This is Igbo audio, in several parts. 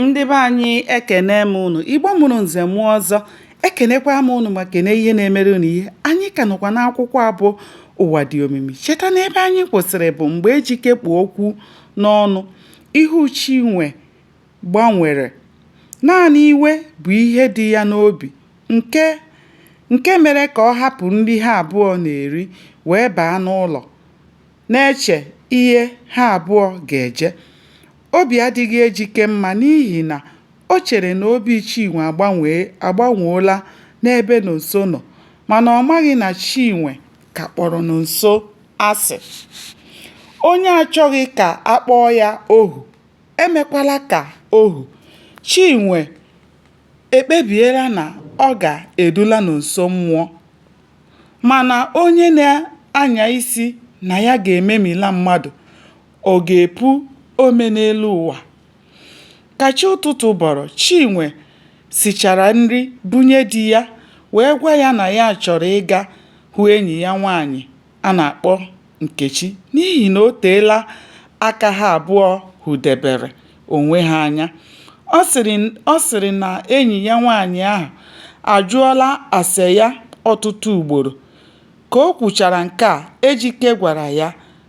ndị be anyị ekene m ụnụ igbo mụrụ nze mụọ ọzọ ekenekwa m ụnụ ma kene ihe na-emere ụnụ ihe anyị ka nọkwa n'akwụkwọ a bụ ụwa dị omimi cheta na ebe anyị kwụsịrị bụ mgbe ejike kpu okwu n'ọnụ ihu chinwe gbanwere naanị iwe bụ ihe dị ya n'obi nke mere ka ọ hapụ nri ha abụọ na-eri wee baa n'ụlọ na-eche ihe ha abụọ ga-eje Obi adịghị Ejike mma n'ihi na o chere na obi Chinwe agbanwoola n'ebe Nonso nọ mana ọ maghị na Chinwe ka kpọrọ Nonso asị. Onye achọghị ka a kpọọ ya ohu, emekwala ka ohu. Chinwe ekpebiela na ọ ga-edula Nonso mmụọ. Mana onye na-anya isi na ya ga-ememila mmadụ, Ọ ga-epu ome n'elu ụwa. Ka chi ụtụtụ bọrọ, Chinwe sichara nri bunye di ya wee gwa ya na ya chọrọ ịga hụ enyi ya nwaanyị a na-akpọ Nkechi n'ihi na o teela aka ha abụọ hụdebere onwe ha anya. Ọ sịrị na enyi ya nwaanyị ahụ ajụọla ase ya ọtụtụ ugboro. Ka o kwuchara nke a, Ejike gwara ya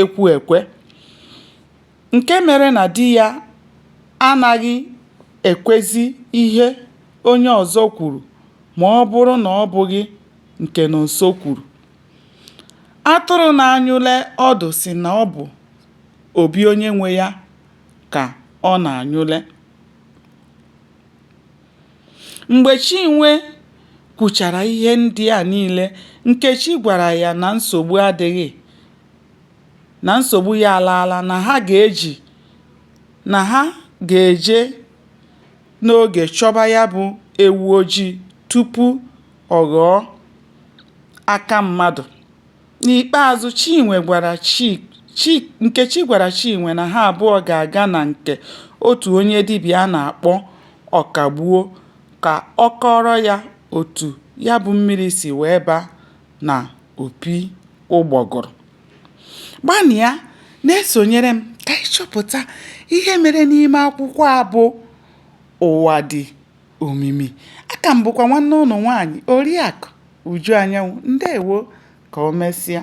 ekwu ekwe nke mere na di ya anaghị ekwezi ihe onye ọzọ kwuru ma ọ bụrụ na ọ bụghị nke Nonso kwuru. Atụrụ na-anyụle ọdụ sị na ọ bụ obi onye nwe ya ka ọ na-anyụle. Mgbe Chinwe kwuchara ihe ndị a niile, Nkechi gwara ya na nsogbu adịghị, na nsogbu ya alaala, na ha ga-eji, na ha ga-eje n'oge chọba ya bụ ewu ojii tupu ọ ghọọ aka mmadụ. N'ikpeazụ, Chinwe gwara Chi, Nkechi gwara Chinwe na ha abụọ ga-aga na nke otu onye dibịa a na-akpọ Ọkagbuo ka ọ kọọrọ ya otu ya bụ mmiri si wee baa n'opi ụgbọgụrụ. Gbanịa na-esonyere m ka anyị chọpụta ihe mere n'ime akwụkwọ a bụ Ụwa Dị omimi aka m bụkwa nwanne ụnụ nwaanyị oriakụ Uju Anyanwụ ndewo ka o mesịa